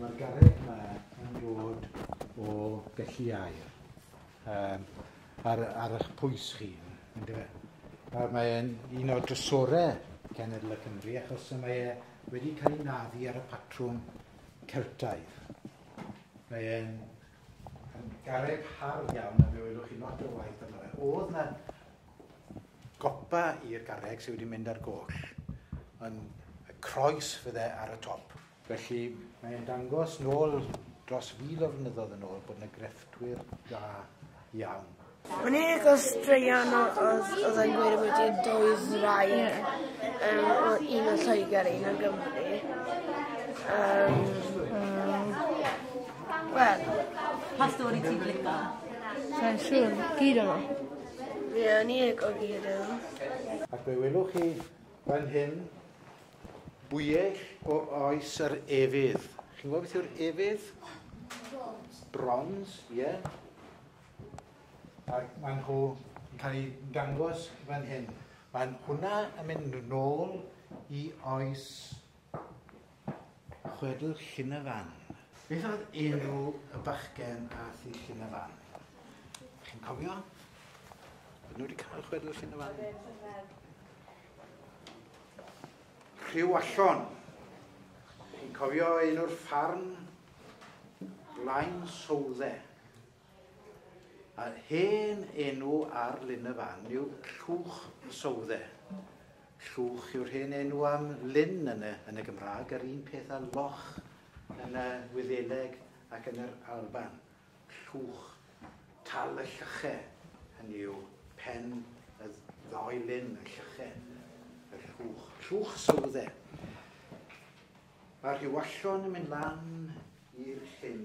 Mae'r garreg yma yn dod o Gelli Air um, ar, ar eich pwys chi. Nawr mae'n un o'r drysorau cenedl y Cymru achos mae e wedi cael ei naddu ar y patrwm Celtaidd. Mae'n garreg hardd iawn a fe welwch chi lot o waith yma. Oedd na Gopa i'r garreg sydd wedi mynd ar goll, ond y croes fydde ar y top. Felly, mae e'n dangos nôl dros fil o flynyddoedd yn ôl bod yna grefftwyr da iawn. O'n i'n lico straeon o- odd odd e'n gweud ambwti dwy ddraig yym o- un o Lloeger a un o Gymru yym yym wel... Pa stori ti'n lico? Sai'n siŵr, gyd o nw. Fe o'n i ag ogi y rhyw. Ac fe welwch chi fan hyn bwyell o oes yr efydd. Chi'n gwybod beth yw'r efydd? Bronze. Bronze, ie. Yeah. Ac maen nhw yn cael eu dangos fan hyn. Mae'n hwnna yn mynd nôl i oes Chwedl Llyn y Fan. Beth oedd enw y bachgen ath i Llyn y Fan? Chi'n cofio? Ydyn nhw wedi cael chwedl Llyn y Fan? Rhyw allon. Chi'n cofio enw'r ffarm? Blaen Southe. Yr hen enw ar Lyn y Fan yw Llwch y Sowdde. Llwch yw'r hen enw am lyn yn y, yn y Gymraeg, yr un peth â loch yn y Wyddeleg ac yn yr Alban. Llwch, tal y Llyche, hynny yw, pen y ddoi lyn, y Llyche, y Llwch, Llwch Sowdde. Mae Rhiwallon yn mynd lan i'r llyn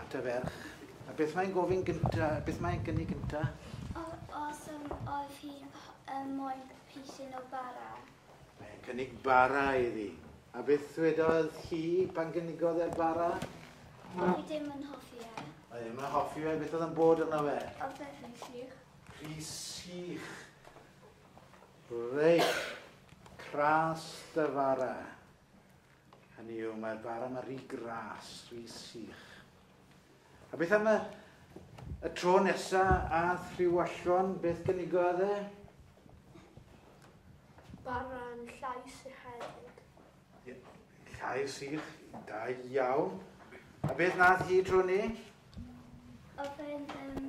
at y ferch. A beth mae'n gofyn gynta? Beth mae'n gynnig gynta? Os um, oedd hi'n um, moyn pisyn o bara. Mae'n cynnig bara iddi. A beth ddwedodd hi pan gynigodd e'r bara? Fi ddim yn hoffi e. Oedd ddim yn hoffi fe, beth oedd yn bod yna fe? Oedd e'n rhy sych. Rhy sych. Reit, cras dy fara. Hynny yw, mae'r bar yma rhy gras, rhy sych. A beth am y, y tro nesa ath rhyw allon, beth gynigodd e? Barran llais i hefyd. Llais sych, da iawn. A beth nath hi tro ni? Oedd e'n um,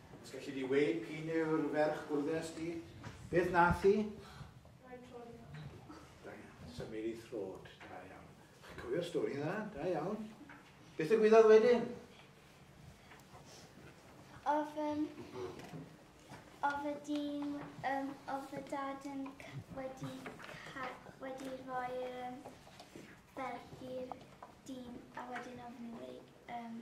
Os galli di weud p'un yw'r ferch bwrddes di? Beth nath i? Rhaid troi. Da iawn. Symud i throd. Da iawn. Chi'n cofio'r stori dda? Da iawn. Beth y gwyddodd wedyn? Ofyn oedd y dyn, um, oedd y dad yn wedi, wedi rhoi'r um, berth i'r dyn a wedyn oedd nhw wedi um,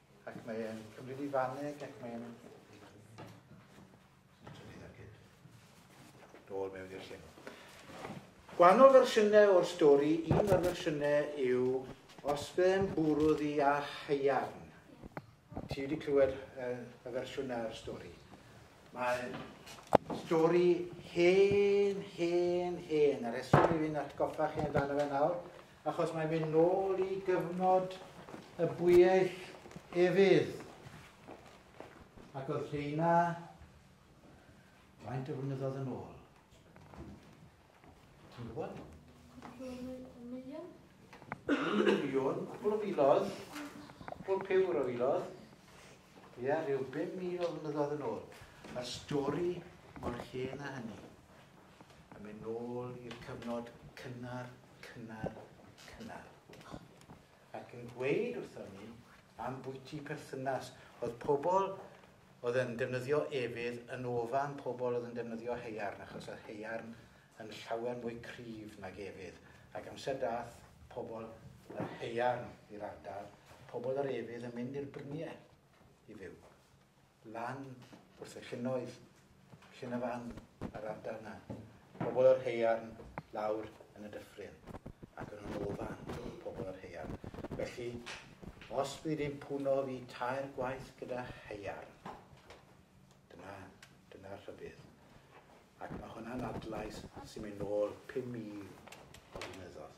Ac mae e'n cymryd i faneg ac mae e'n... Dôl mewn i'r llyn. Gwahanol fersiynau o'r stori, un o'r fersiynau yw os fe'n bwrw ddi a haiarn. Ti wedi clywed uh, y fersiwn o'r stori. Mae stori hen, hen, hen. Yr eswm i fi'n atgoffa chi amdano fe nawr, Achos mae'n mynd nôl i gyfnod y bwyell efydd. Ac oedd rheina faint o flynyddoedd yn ôl? Ti'n gwybod? Miliwn. Miliwn, cwbl o filodd, cwbl pywr o filodd. Ie, yeah, rhyw 5,000 o flynyddoedd yn ôl. Mae'r stori mor hen a hynny. Yn mynd nôl i'r cyfnod cynnar cynnar, cynnar, ac yn gweud wrthon ni am bwyty perthynas. Oedd pobl oedd yn defnyddio efydd yn ofan pobl oedd yn defnyddio heiarn, achos oedd heiarn yn llawer mwy cryf nag efydd. Ac amser dath pobl yr heiarn i'r ardal, pobl yr efydd yn mynd i'r bryniau i fyw. lan wrth y llynnoedd, llyn y fan a'r ardal yna, pobl yr haearn lawr yn y dyffryn, ac yn ôl o fan pobl yr haearn. Felly, os bydd yn pwno fi tair gwaith gyda haearn, dyna, dyna'r rhybydd. Ac mae hwnna'n adlais sy'n mynd nôl 5,000 o flynyddoedd.